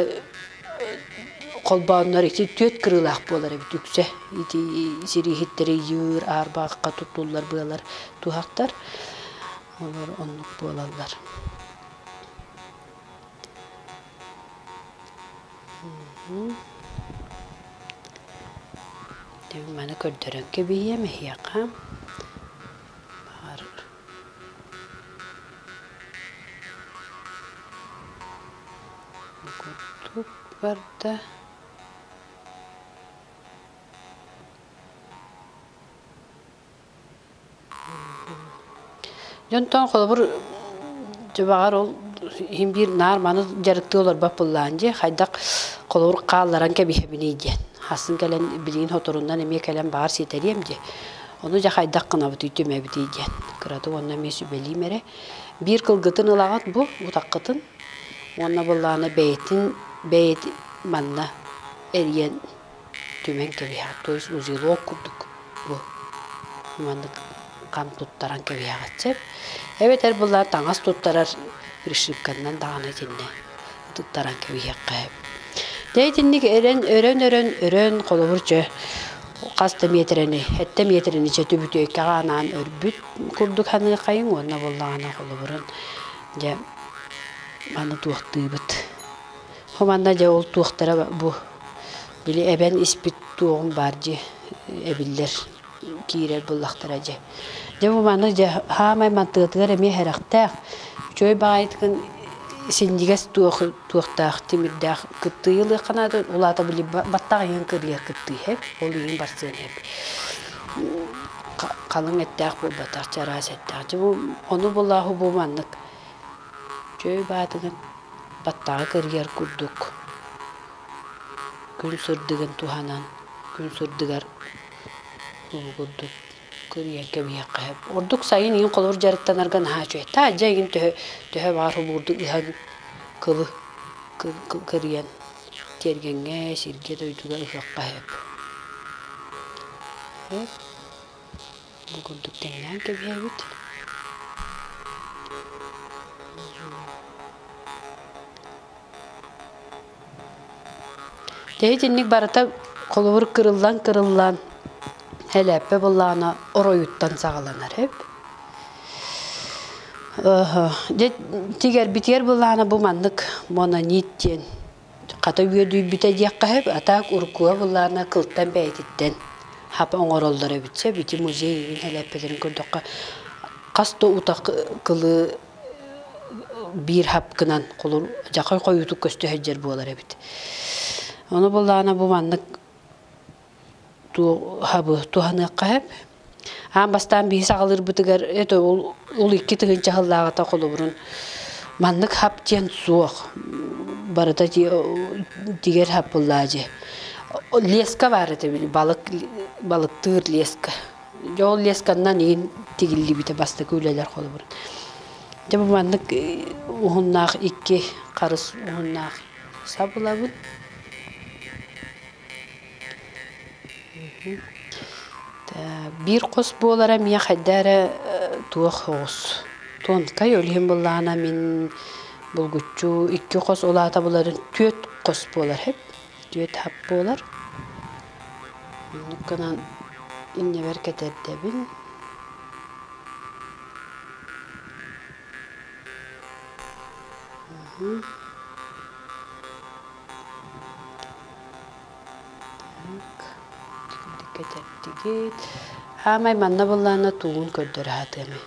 холбооннор ити түөрт кырыылаах буолар эбит үксэ ити сирииһиттэри ыйыыр аарбаахха туттуллар быалар туһахтар олор оннук буолаллар маны көрдөрөн кэбиһиэм эһиэхэ баар Курдук барда. Дьонтон холобур дьыбаҕар ол иһин биир наар маны дьарыктыы олорбот буллаан дии хайдах холобур хаалларан кэбиһэбиний диэн хассын кэлэн билигин хоторуннан эмиэ кэлэн баҕар ситэриэм дии Ону дьэ хайдах гынабытый, түмэбитий диэн. Кыратык онно эмиэ сүбэлиим эрэ. Биир кылгытын ылаҕыт бу, утаххытын. Уонна былаана бэйэтин бэйэт манна эрийэн түмэн кэбиһэҕит. То есть узелок курдук бу маннык хам туттаран кэбиһэҕит сөп. Эбэтэр былаан таҥас туттарар пришибканнан даҕаны итиннэ туттаран кэбиһиэххэ. Дьэ итинник эрэн өрөн өрөн өрөн холобур чө хас да миэтэрэни, эттэ миэтэрэни чөтү бүтүөккэ анаан өрбүт курдук саныырхайыҥ уонна буоллаҕына холобурун дьэ аны туохтыыбыт. Хуманна дьэ ол туохтара бу били эбэн испит туоҕум баар дии эбиллэр киирэр буллахтара дьэ. Дьэ бу манна дьэ хаамай мантыатыгар эмиэ харахтаах чой баайытгын синдигэс туох туохтаах тимирдээх кыттыы ылыах канаатын улаата били баттах иһин кырлыар кыттыы эп ол иһин барсыан эп халыҥ эттээх буолбатах чараас эттээх дьэ ону булааһу бу маннык чөй баатыгын баттаҕы кырыйар курдук күн сырдыгын туһанан күн сырдыгар курдук көрүйэн кэбиһиэххэ сөп. Ордук сайын иин холобур дьарыктанарга наһаа үчүгэй. Таалдьа игин төһө төһө баар хобуурдук ыһан кылы көрүйэн тиэргэҥҥэ, сиргэ, дойдуга ыһыахха сөп. Бу курдук тэҥнээн кэбиһэбит. Итинник барыта холобур кырыллан кырыллан элээппэ былаана оройуттан саҕаланар эб. Дьэ тигэрбитигэр былаана бу маннык мононит диэн хата үөдүйбүтэ диэххэ сөп, а так уруккуга былаана кылтан бэйэтиттэн хап оҥороллор эбит. Чэ ити музей эбин элээппэтин көрдөххө хас да утах кылыы биир хапкынан кулур дьахай хойуутук көстө сылдьар буолар эбит. Ону булаана бу маннык хабы туһаныахха сөп. Аан бастаан биһи саҕалыырбытыгар это ол, ол икки тыһынча сыллааҕыта холобурун маннык хап диэн суох. Барыта тигэр хап буллаа дьи. Леска баар этэ били балык балыктыыр леска. Дьэ ол лесканнан иһин тигиллибитэ бастакы үлэлэр холобур. Дьэ бу маннык уһуннаах икки харыс уһуннаах сабылабыт. Биир хос буолара мия хайда эрэ туох оҕус. Тонкай өлүһүн быллаана мин булгуччу икки хос улаатабыларын түөрт хос буолар хэп. түөрт хап буолар оннук гынан иннибэр кэтэрдэбин кэтэрдигит аамай манна быллаана туугун көрдөрө сатыамый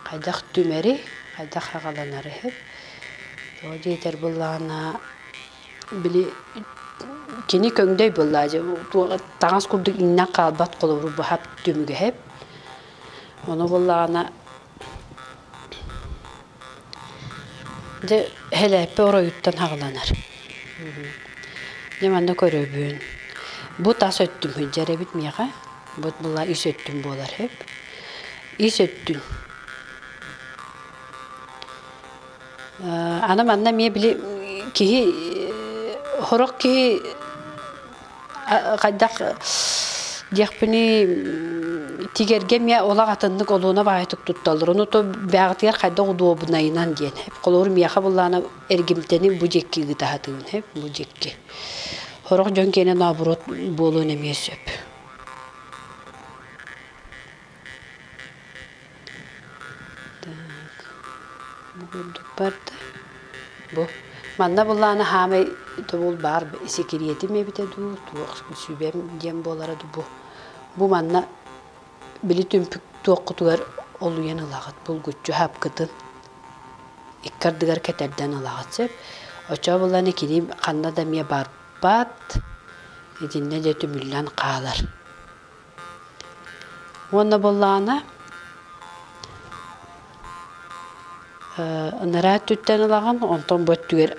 хайдах түмэри хайдах аҕаланары сөп тоҕо диэтэр быллаана Били кини көҥдөй буоллаа дьэ таҥас курдук иҥнэн хаалбат холобуру быһат түмүгэһэп. Ону буоллаҕына дьэ эһэлээппэ оройуттан хаҕыланар. Дьэ манна көрөбүн бу тас өттүм сылдьар эбит миэхэ бу була ис өттүм буолар үһү. Ис өттүм Аны манна эмиэ били киһи сорох киһи хайдах диэхпиний тигэргэ эмиэ олох атыннык олуона баайытык тутталлар. Ону то бэҕэтигэр хайдах удуобунайынан диэн. Холобур миэхэ буллаана эргимтэни бу диэки ыытаһытыын эп бу диэки. Сорох дьон киэнэ нообуруот буолуон эмиэ сөп. Так, ону көрдүкпэр да бу манна былаан хаамай тобул баар сикириэтим эбитэ дуу туох сүбэм диэн буолара дуу бу бу манна били түмпүк туоххутугар олуйан ылаҕыт булгуччу хапкытын икки ардыгар кэтэрдэн ылаҕыт сөп очоо булан итиним ханна да эмиэ барбат итиннэ да түмүллэн хаалар Уонна буоллаҕына ынараа өттүттэн ылаҕын, онтон бу өттүгэр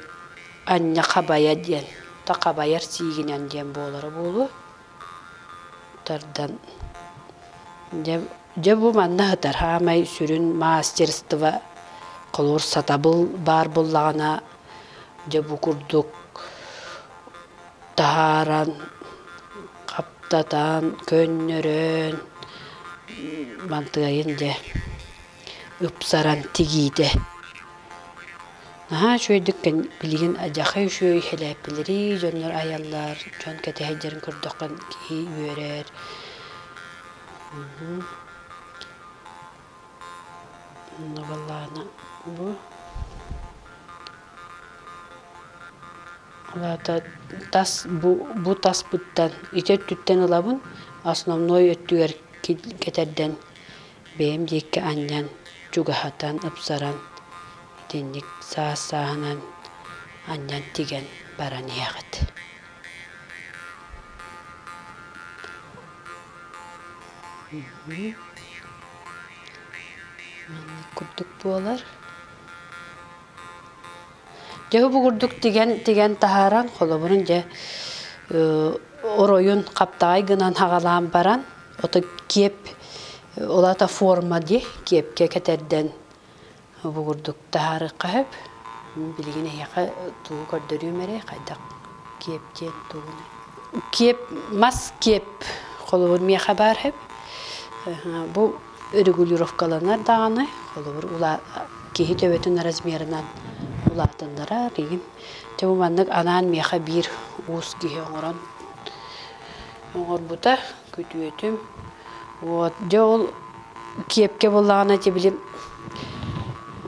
аньна хабайа диэн, то хабайар сиигинэн диэн буолара буолуо. Тардан дьэ, дьэ бу манна сытар саамай сүрүн маастерство холуурсатабыл баар буоллаҕына дьэ бу курдук таһааран, хаптатан, көннөрөн бантыайын дьэ ыпсаран тигиитэ. Наһаа үчүгэйдик билигин адьахай үчүгэй хэлээппилэри дьоннор айаллар, дьон кэтэһэйдэрин көрдөххө киһи үөрэр. Ону балаһана бу Аата тас бу бу таспыттан ити өттүттэн ылабын, основной өттүгэр кэтэрдэн бэйэм диэки анньан, чугаһатан, ыпсаран итинник саас сааһынан анньан тигэн баран иһэҕит. Маннык курдук буолар. Дьэ угугурдук тигэн тигэн таһааран холобурун дьэ оройун хаптаҕай гынан аҕалаан баран ото киэп ол аата форма дии киэпкэ кэтэрдэн угугурдук таһаарыахха сөп билигин эһиэхэ тугу көрдөрүөм эрэй хайдах киэп диэн тугунуй киэп мас киэп холобур миэхэ баар сөп бу регулировкаланар даҕаны, холобур, улаа киһи төбөтүн размерынан улаатыннара дейин. Чему маннык анаан миэхэ биир уус киһи оҥорон оҥорбута күтүөтүм. Вот дьэ ол киэпкэ буоллаҕына ити били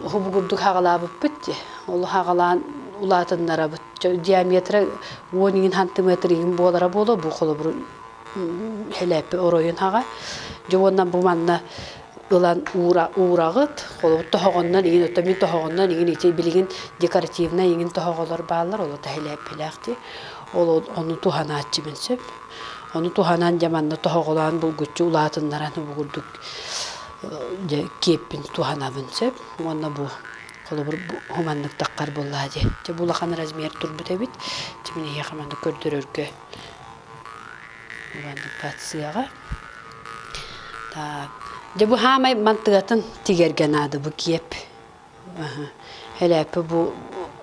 уһубугурдук хаҕалаабыппыт дии. Ол хаҕалаан улаатыннарабыт. Диаметра он иҥин сантиметр иҥин буолара буолуо бу холобур Хилээппи оройун хаҕа дьэ уонна бу манна ылан уура уураҕыт, холобур тоһоҕоннон игин отто мин тоһоҕоннон игин ити билигин декоративнай игин тоһоҕолор бааллар ол та хилээппилээхти ол ону туһанааччы мин сөп ону туһанан дьэ манна тоһоҕолоон булгуччу улаатыннаран угурдук дьэ киэппин туһанабын сөп уонна бу холобур хуманнык таххар буоллаа дии дьэ бу улахан размер турбут эбит дьэ мин эһиэхэ маннык көрдөрөргө Регистрацияҕа. Так, дьэ бу хаамай мантыгатын тигэргэ наада бу киэп. Элээппи бу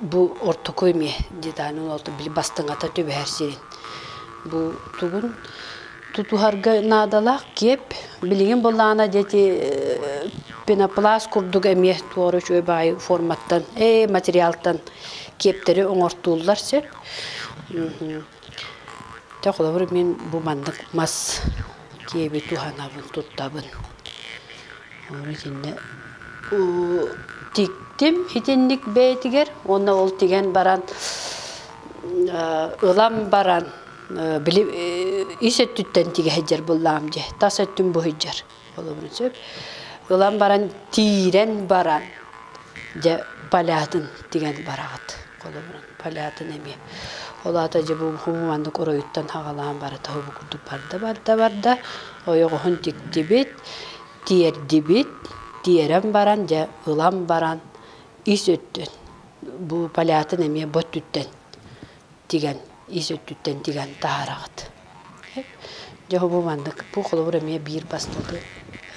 бу ортокуй мие дитанын олту били бастыңата түбэһэр сирин. Бу тугун тутуһарга наадалаах киэп. Билигин булаана дети пенопласт курдук эмиэ туора үчүгэй баай форматтан, э материалтан киэптэри оҥортууллар сөп. Дьэ холобур мин бу маннык мас киэби туһанабын, туттабын. Ону итиннэ тиктим итинник бэйэтигэр уонна ол тигэн баран ылан баран били ис өттүттэн тигэ сылдьар быллаам дии, тас өттүм буһуйдьар Холобура сөп. Ылан баран, тиирэн баран, дьэ, полятын тигэн бараҕыт. Холобуран, полятын эмиэ. Ол аата дьэ бу хумуманнык оройуттан хаҕалаан барыта уһубу курдук барда, барда, барда. Ойоҕоһун тиктибит, тиэрдибит, тиэрэн баран, дьэ, ылан баран, ис өттүн. Бу полятын эмиэ бу өттүттэн тигэн ис өттүттэн тигэн таһараҕыт. Дьэ бу маннык бу холобур эмиэ биир бастакы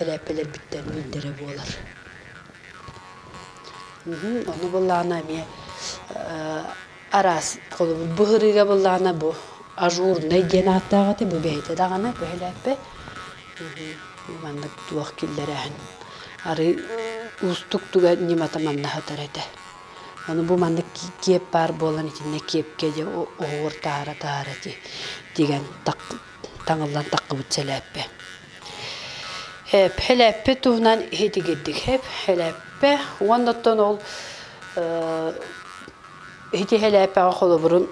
элээппэлэрбиттэн биирдэрэ буолар. Ону былаана эмиэ араас холобур быһырыыга былаана бу ажурнай диэн ааттаах этэ бу бэйэтэ даҕаны бу элээппэ маннык туох киллэрээһин арый уустук туга ньымата маннаһытар этэ Аны бу маннык киэп баар буолан итиннэ киэпкэ дьэ оһуор таһара-таһара ити тигэн таҥыллан таххыбыт сэлээппэ. Элээппэ туһунан иһитигирдик хэп элээппэ уонна оттон ол ити элээппэҕэ холобурун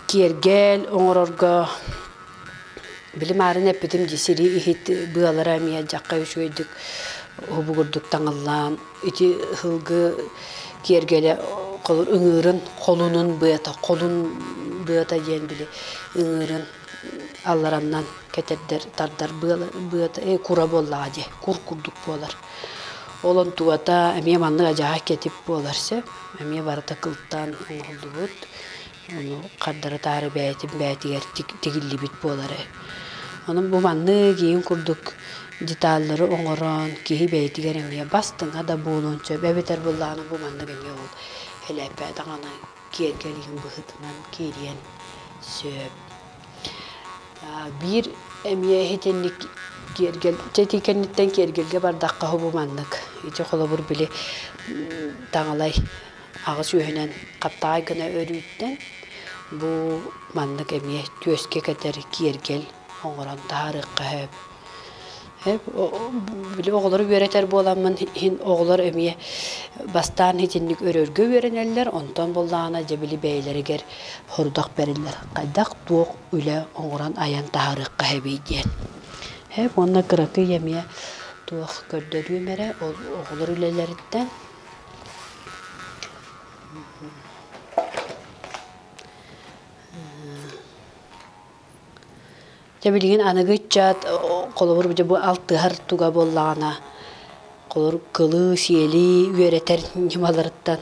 киэргэл оҥорорго Били маарын эппитим дии сирии иһит быалара эмиэ дьахха үчүгэйдик уһугурдук таҥыллаан ити ыһылгы киэргэлэ холур ыҥыырын холунун быата холун быата диэн били ыҥыырын аллараннан кэтэрдэр тардар быала быата э кура буоллаҕа дии кур курдук буолар ол онтубата эмиэ маннык адьаһа кэтит буолар сэ эмиэ барыта кылтаан оҥоһуллубут хардары-таары бэйэтин бэйэтигэр тигиллибит буолары. Онон бу маннык иһин курдук деталлары оҥорон киһи бэйэтигэр эмиэ бастыҥа да буолуон сөп эбэтэр былаана бу маннык эмиэ ол элэппэ даҕаны киэргэл иһин быһыытынан киириэн сөп. Биир эмиэ иһитинник киэргэл чэ итии кэнниттэн киэргэлгэ бардахха бу маннык ити холобур били таҥалай аҕыс үөһүнэн хаптаҕай гына өрүүттэн бу маннык эмиэ түөскэ кэтэр киэргэл оҥорон таһаарыахха сөп. Били оҕолору үөрэтэр буоламмын иһин оҕолор эмиэ бастаан итинник өрөргө үөрэнэллэр, онтон буоллаҕына дьэ били бэйэлэригэр хорудах бэриллэр. Хайдах туох үлэ оҥорон айан таһаарыахха сөбүй диэн. Уонна кыракый эмиэ туох көрдөрүөм эрэ ол оҕолор үлэлэриттэн Дьэ билигин аныгы ыччат холобур бу алтыһар туга буоллаҕына холор кылыы-сиэлии үөрэтэр ньымаларыттан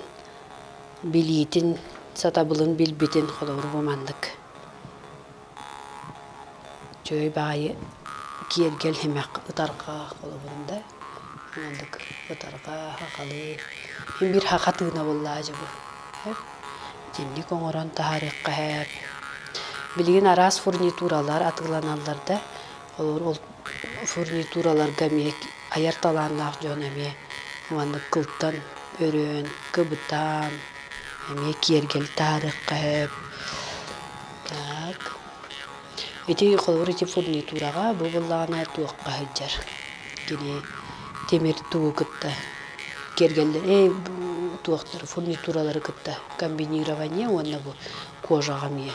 билиитин сатабылын билбитин холобур бу маннык Чөй баайы киэргэл һимэх ытарҕаах холобурум да маннык ытарҕаа хахалыы мин биир хахатыына буллаа дьэ бу итинник оҥорон таһаарыаххаһээт билигин араас фурнитуралар атыыланаллар да ол фурнитураларга эмиэ айар талааннаах дьон эмиэ маннык кылтан өрөөн кыбытаан эмиэ киэргэли таһаарыаххаһээт Так. Ити холобур ити фурнитураҕа бу буоллаҕына туохха сылдьар кини тимир тугу кытта киэргэллэр эй туохтары фурнитуралары кытта комбинирование уонна бу кожаҕа эмиэ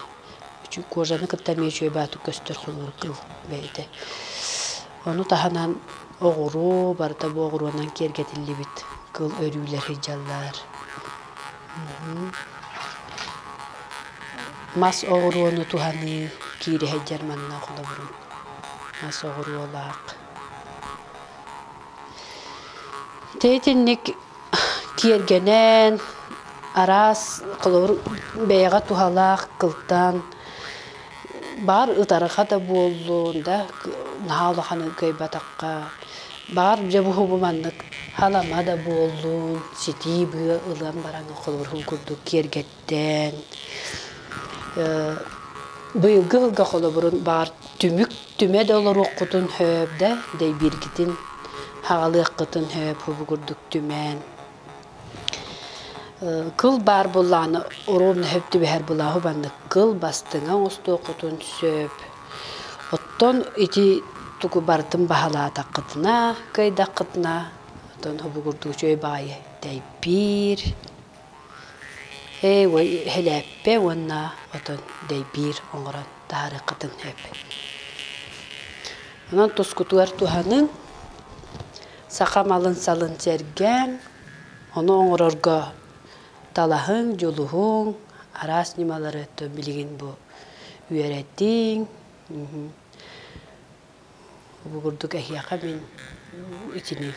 кожаны кытта эмиэ үчүгэй баатык көстөр холобур кыл бэйэтэ ону таһынан оҕуруу барыта бу оҕуруонан киэргэтиллибит кыл өрүүлэр сылдьаллар Мас оҕуруону туһаныы киири сылдьар манна холобурум. Мас оҕуруолаах. Ити итинник киэргэнэн, араас, холобур, бэйэҕэ туһалаах кылтаан Баар ытарха да буоллун, да наһаа улаханын кыайбатахха, баар дьэ буһубу маннык халама да буоллун, ситии быа ылан баран холобурун курдук киэргэттэн, быйылгы ыылга холобурун баар түмүк түмэ да олоруоххутун сөп да, дэйбииргитин хаҕалыаххытын сөп, бу курдук түмээн. Кыл баар буллааны оруобуна сөп түбэһэр былааһы маннык кыл бастыҥа оҥостуоххутун сөп. Оттон ити тугу барытын баһылаатаххытына, кыайдаххытына, оттон обугурдуу үчүгэй баайы дэйбиир, элээппэ уонна отон дэйбиир оҥорон таһаарыаххытын сөп. Онон тускутугар туһаныҥ. Саха малын-салын сэргээҥ, ону оҥорорго талаһыҥ, дьулуһуҥ, араас ньымалары өттө билигин бу үөрэтиҥ. Бу курдук эһиэхэ мин итини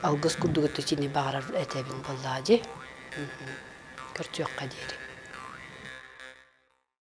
алгыс курдук өттө итини баҕарар этэбин буоллаҕа дии. Көрсүөххэ диэри.